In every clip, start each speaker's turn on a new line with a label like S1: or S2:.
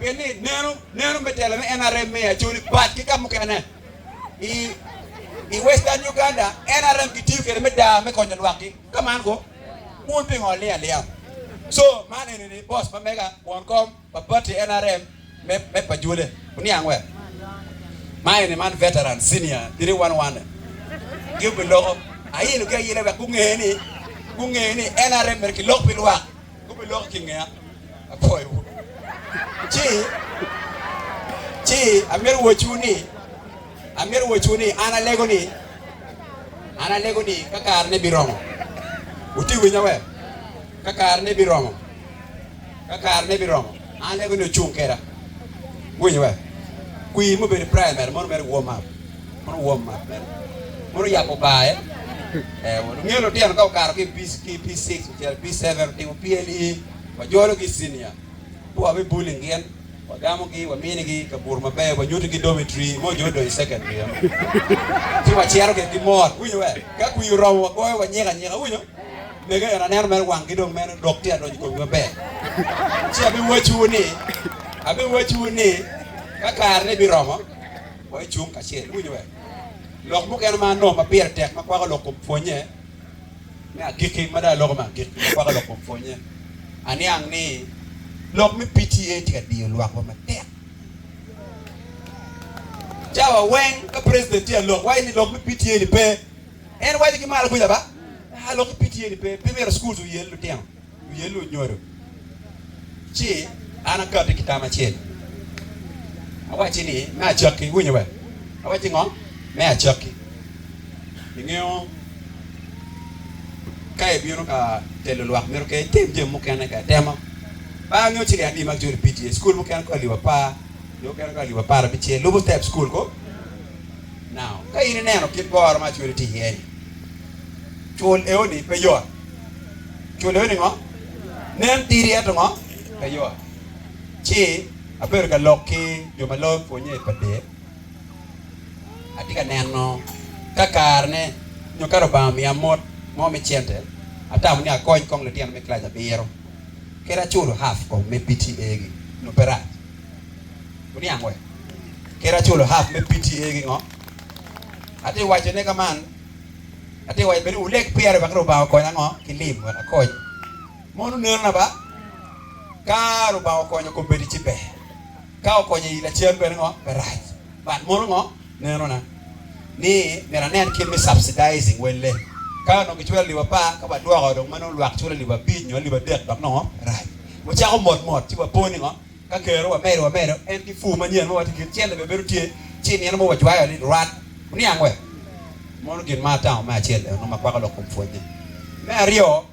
S1: Pien ni nenu, nenu me telo me NRM me Acholi bat ki ka mukene i i Western Uganda, NRM kitiyo kwede me daa me konyo lwakgi. Ka man ko, wun pingo aling alinga? So, man eni ni boss ma mega, won kom pa party NRM me me pa Jwele, oniang we? Ma eni man veteran, senior, three one one gi obiloko, ayilo gi ayila wek gunge ni, gunge ni NRM myero kilok pi lwak. Gubiloki ki ngeya. Apwoyowu. Ci, ci amito wacciwu ni, amito wacciwu ni, an alego ni, an alego ni ka karene biromo, wutye winya we? Ka karene biromo, ka karene biromo, an alego ni wucung keda. Iwinyo we? Kwir mubedo i primary mono mere warm up. mono wom mat mere, mono yabo barre. Ee, wungeyo lutino ka okato ki i P6 ocito i P7, otimo PLE, wajologi i cinia, pe wabi bullying gin, wagamogi, waminigi kaburu maber, wanyutigi dormitory mo jo odong i secondary eno, ci wacito gire ki mot. Iwinyo we? Ka kwir oromo, wagoyo, wanyiko anyika. Iwinyo? Mege eno, aneno mere wanggi dong mere lok tye ka donyo i komgi maber. Ci abiwacciwu ni, abiwacciwu ni, ka karene biromo, Wacung kacel. Iwinyo be? Lok mukene ma anongo ma pire tek ma kwako lok kom pwonnye me agikki, ma dong aloko me agikki ma kwako lok kom pwonnye, aniang ni lok me PTA tye ka diyo lwakwa matek. Cawa weng ka president tye ka lok, waco ni lok me PTA ni pe. En waco ki malo kuca ba, aa, lok me PTA ni pe, pe myero schools oyel lutino. wiye lunyodo, ci an akati ki tam acel, awacci ni, Me acakki, iwinyo we? Awacci ngo? Me acakki, ingeyo ka ibino ka telo lwak mito ke itim jami mukene ka itemo. Par angeyo ciliya adi ma gicodo i PTA, cukul mukene ko alip apar, jo mukene ko alip apar abicel, lubo step cukul ko. Now, ka in ineno kit goro ma acwele tye iye-ni, cul eoni pe yot. Cwodone ni ngo? Nen tidi ento ngo? Pe yot. Ci abedo ka lok ki jo ma loyo pwonye i pade, atye ka neno ka karene nyo ka Lubanga omiya mot mo me cente, atamo ni akony kong litino me kilac abiro, kadi aculo half kong me PTA-gi nyo pe rac. Wuniang wee? Kadi aculo half me PTA-gi ngo? Atye ka wacone ka man. Atye waco bene wuleg pire wek Lubanga okonya ngo ki lim wek akony. Mono neno na ba? Ka Lubanga okonyo kom bedi ci ber, ka okonyo iyi lacen bene ngo pe rac. But mono ngo neno na ni myero anen kit me subsidizing welle. Ka onongo giculo alip apar ka wadwoko dong ma nongo lwak culo alip abic nyo alip adek dok nongo rac. Wucako mot mot ci wapo ni ngo Ka kero wamedo amedo, en ki pur manyen ma watye kit celle bene bedo tye, ci i nino mo wajwayo ni, Rwat, wuniang wek mono gin ma atamo me acel ennu ma kwako lok kom pwonye. Me aryo,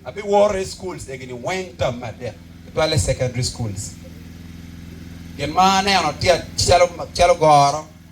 S1: abiworo i schools egini weng tam me adek, tutwalle secondary schools. Gin ma aneno tye calo goro.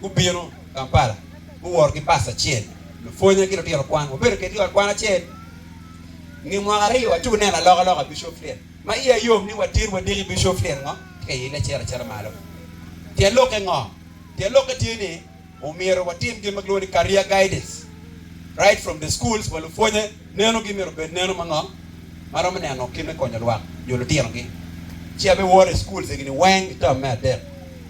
S1: Gubino Kampala, guworo ki bas acel, lupwonya ki lutino kwan. Wabedo kedgi i ot kwan acel nge mwaka aryo, aco wuneno alokaloka i Bishop Flyet. Ma iya yom ni watir wadiki Bishop Flyet ngo tye ka ile cito acita malo. Tyen lokke ngo? Tyen lokke tye ni omyero watim gin ma kilwongo ni career guidance right from the schools wa lupwonye. Nenogi myero obed neno mango ma romo neno kit me konyo lwak nyo litinogi? Ci abiwor i schools egini weng i term me adek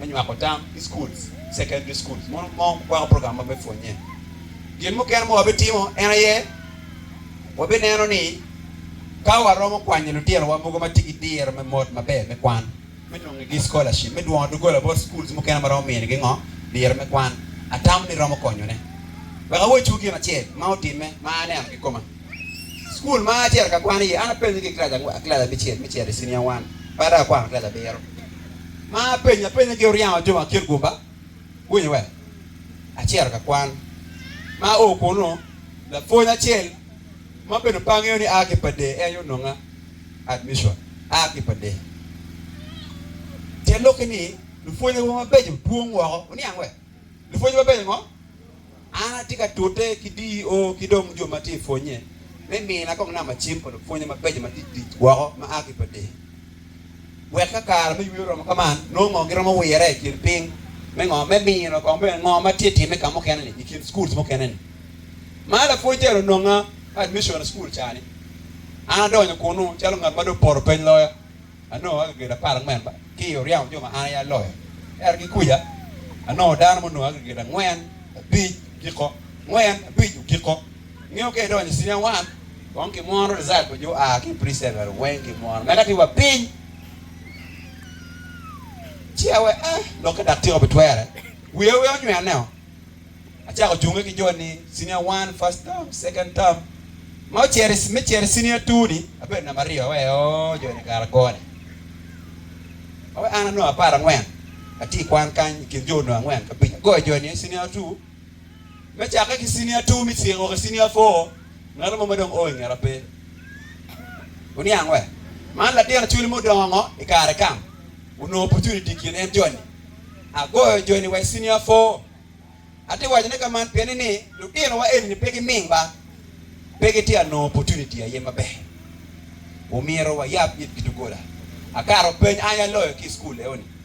S1: me nywako tam ki schools, secondary schools mono mo kwako program ma me pwonye. Gin mukene ma wabitimo en aye wabineno ni ka waromo kwanyo litinowa mogo ma tye ki diro me mot maber me kwan, me nongnigi scholarship me dwongo doggola bot schools mukene ma romo mini gi ngo liro me kwan atamo ni romo konyone. Wek awocci wu gin acel ma otimme ma aneno ki koma. School ma acito ka kwan iye an apenyo ki class angwen, class abicel me cito i senior one ba dok akwano class abiro. Ma apenyo apenya gi oryango jo ma kin guba winyo wek acito ka kwan. Ma ao kunu lapwony acel, Ma bene pe angeyo ni aa ki Padee en aye ononga admission aa ki Padee. Tye lok ni lupwonye wa mabeco dwong woko oniang we? Lupwonye mabeco ngo? An atye ka tute ki DEO ki dong jo ma tye i pwonye me mina kong namba cim pa lupwonye mabeco ma tic tic woko ma aa ki Padee. Wek ka kare me yweyo oromo ka man, nongo giromo wirre i kin piny me ngo me mino kong bene ngo ma tye timme ka mukene-ni i kin schools mukene-ni. Mar lapwony tere ononga ka admission i school ca-ni. An adonyo kunu calo ngat ma dong poto peny loya. Anongo agriget apar angwen ba ki i oryamo jo ma an aye aloyo. Ento ki kuca, anongo dano munongo agriget angwen, abic, okiko, angwen, abic, okiko. Ngeyo ka idonyo i Senior One, kong kimwono result pa jo aa ki i Pre-Secondary weng kimwono. Meda ki wa piny, ci awe ah, lok ka dak tyeko pi twere. Wiya aye onywea neo. Acako junge ki jo ni Senior One, First Term, Second Term. Ma ocero i, me cero i Senior Two ni, abedo namba aryo. Awe ooh, jo ni kara gone. Awe an anongo apar angwen, atye i kwan kany i kin jo onongo angwen ki abic. Agoyo jo ni aye Senior Two, Me cakke ki cinia two me ceng o ki cinia four, ngat mo ma dong o i ngeta pe. Wuniang wek man latin acwali mudongo ngo i kare kam onongo opportunity i kin en joni. Agoyo joni wa i cinia four. Ati waco ne ka man pien ni ni lutino wa eni ni pe gi ming ba pe gi tye a nongo opportunity aye ma ber. Omyero wa yab it gi dogola. Akato peny ange aloyo ki i school eo ni.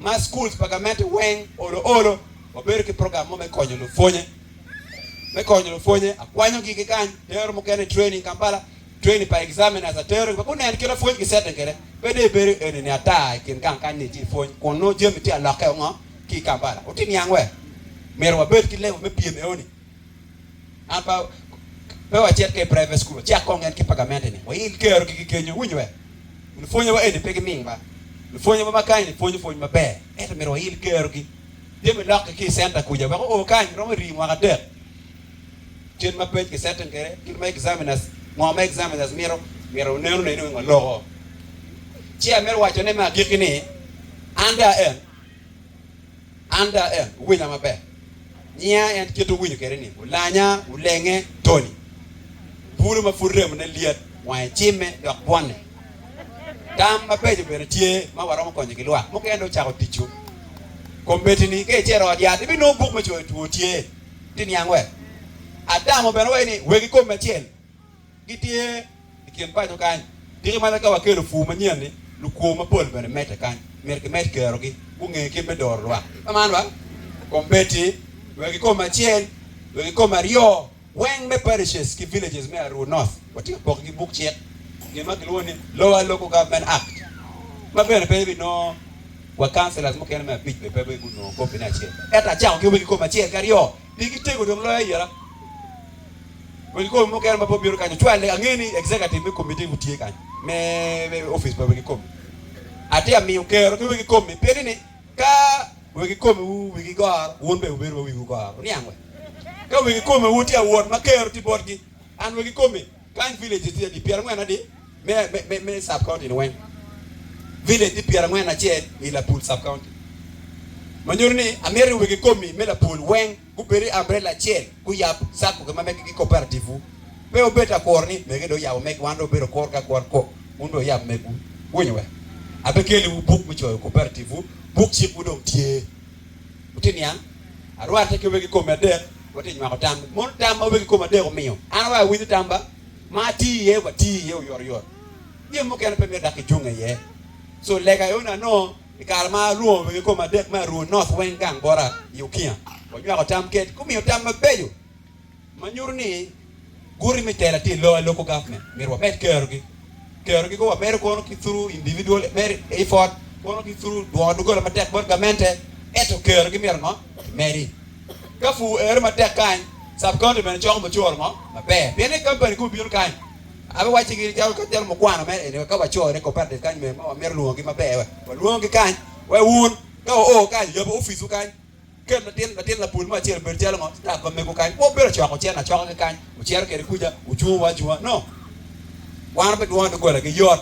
S1: ma schools pa gamente weng olo olo wabedo ki program mo me konyo lupwonye me konyo lupwonye akwanyo gi gi kany tero mukene training Kampala training pa examiners atero gi guneno kit lapwony gi setting kede pe dong ibedo eni ni ata ikin gang kany ni iti ipwony kun nongo jami tye alokke ongo ki Kampala uti niang wer myero wabed ki level me pyem eoni An pe wacit ki i private school, wacak kong en ki pa gamente-ni, wail kero gigi kenyo. Iwinyo be? Lupwonye wa eni pe giming ba. Lupwonye wa ma kany-ni pwonyo pwony maber, ento myero wail kerogi. Tye me lokgi ki i centa kuca wek oo kany romo rii mwaka adek. Kit ma pec ki setting kwede, kit ma examiners, ngo ma examiners mito, myero wunen ne ni weng waloko. Ci amito wacone me agikki ni, under en. Anda en owinya maber. Nyinga en kit owinyo kede ni olanya, olenge, Tony. Bulu ma pud remone lyet, wange cimme dok bwonne. Tam mabeco bene tye ma waromo konyo ki lwak mukene dong cako ticcu. Kombeddi-ni ka icito ot yat ibinongo buk me coyo two tye ti niang wek. Adamo bene waci ni wegi kome acel Gitye i kin paco kany. Tiki mana ka wakelo pur manyen-ni, lukwo mapol bene medde kany. Myero kimed kerogi gunge kit me doro lwak. Kamano wa, kombeddi wek i kom acel, wek i kom aryo weng me parishes ki villages me Aruu North, watye ka pokogi buk cik, gin ma kilwongo ni Lower Local Government Act, ma bene pe ibinongo wa councillors mukene me abic bene pe gunongo kopine acel. Ento acako ki wek i kom acel ki aryo. Pigi tego dong loyo ayera. Wegi komi mukene ma pe obino kany ocwalle. Angeyo ni executive me komi te wutye kany me office pa wegi komi. Atye amiyo kero ki wegi komi piri ni ka wegi komi wu wigi goro wun bene wubedo ma wiwu goro. Oniang we? Ka wegi komi wu tye awot ma kero tye botgi, an wegi komi Kany vileje tye adi? Pyera ngwen adi me sub county ni weng? Village tye pyera ngwen acel i Lapul sub county. Manyuto ni amito ni wegi komi me Lapul weng gubed i umbrella acel guyab sacco gi ma mege ki cooperative wu. Pe wubed ta kuro ni mege dong oyabo mege wan dong wabedo kur ki akura kok wun dong wuyab megwu. Wuwinyo wek? Ape keli wu buk me coyo cooperative wu, buk cik wu dong tye. Watye niang, arwate ki wegi kome adek, watye nywako tam. Mono tam ma wegi kome adek omiyo an awayo awinyo tam ba? Ma ati iye wa ti iye oyot oyot. Jami mukene pe myero dok kicunge iye. So lega aye onongo anongo i kare ma alwongo wegi kome adek me aruu North weng gang bota i Ukiya, wanywako tam ked gumiyo tam mabeco. ma nyuto ni guti me tela tye i lok local government myero wamed kerogi, kerogi go wamedo kono ki through individual effort kono ki through dwongo doggola matek bot gamente ento kerogi myero ngo kimedi ka pur ero matek kany sub county bene coko mucoro mo maber pien ni company ka obino kany abiwacci gi calo mukwano mere eni ka waco ne cooperative kany mere ma wamito lwongo gi maber walwongo gi kany wa wun ka wa o kany yabu office wu kany. Kel latin latin lapul mo acel obedo calo ngo? Sitaf pa mego kany pe obedo ocoko cen acoka ki kany ocito kede kuca ojungo wa ajunga no. Wan pe dwongo dogola gi yot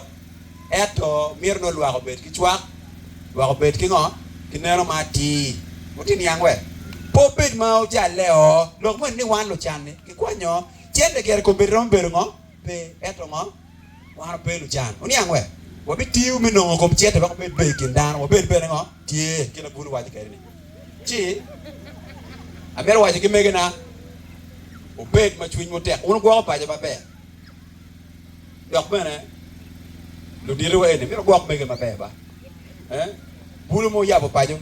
S1: eto mito nongo lwak obed ki cwak, lwak obed ki ngo? Ki neno ma atir. Wuti niang we pe obed ma ojalle oo. Lok moni ni wan lucan ni ki kwanyo cente kere kombeddi romo bedo ngo? Pe eto ngo? Wan wape lucan oniang wek wabitiyo me nongo kom cente wek wabed ber i kin dano, wabed bene ngo tye, kit ma bun owaco kede ni ci amito waco ki megina wubed ma cwinywu tek wun gwoko paco maber dok bene luditi wa eni mito gwok mege maber ba bulu mo oyabo paco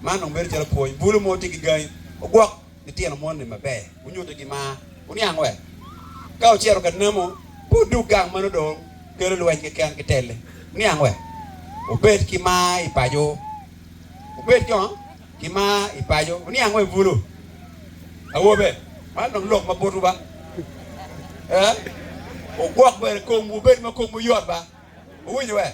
S1: man dong bedo calo pwony bulu mo tye ki gangi ogwok litino moni maber, wunyutigi mar. Wuniang wek ka wucito ka namo, pe wudug gang ma nongo dong kelo lweny keken ki telle. Wuniang wek wubed ki mar i paco, wubed jo ki mar i paco. Wuniang wek bulu awobe, man dong lok ma botwu ba, ee, wugwok bene komwu, wubed ma komwu yot ba. Wuwinyo wek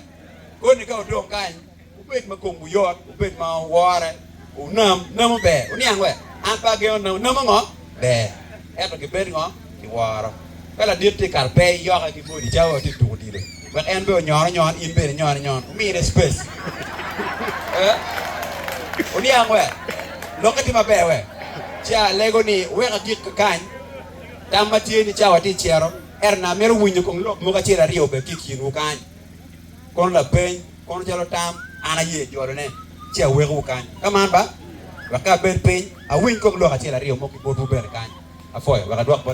S1: koni ka wudong kany Wubed ma komwu yot, wubed ma wore, wunam namo ber, wuniang wek an pe agengo namo, namo ngo ber, ento gibed ngo kiworo. Ka ladit tye kato pe iyoke ki body calo wa tye tuko odilo, wek en bene onyon onyon, in bene inyon inyon, wumine space. Wuniang wek lokke tye maber wek ca alego ni weka gik kakany. Tam ma tye ni ca wa tye icito, ento nang amito winyo kong lok mogo acel aryo bene tye ikinwu kany. Kono lapeny. Kono calo tam, an aye jolone, ci awekowu kany. Ka man ba, wek ka abed piny, awiny kop lok acel aryo mo ki botwu bene kany. Apwoyo, wek adwok bot.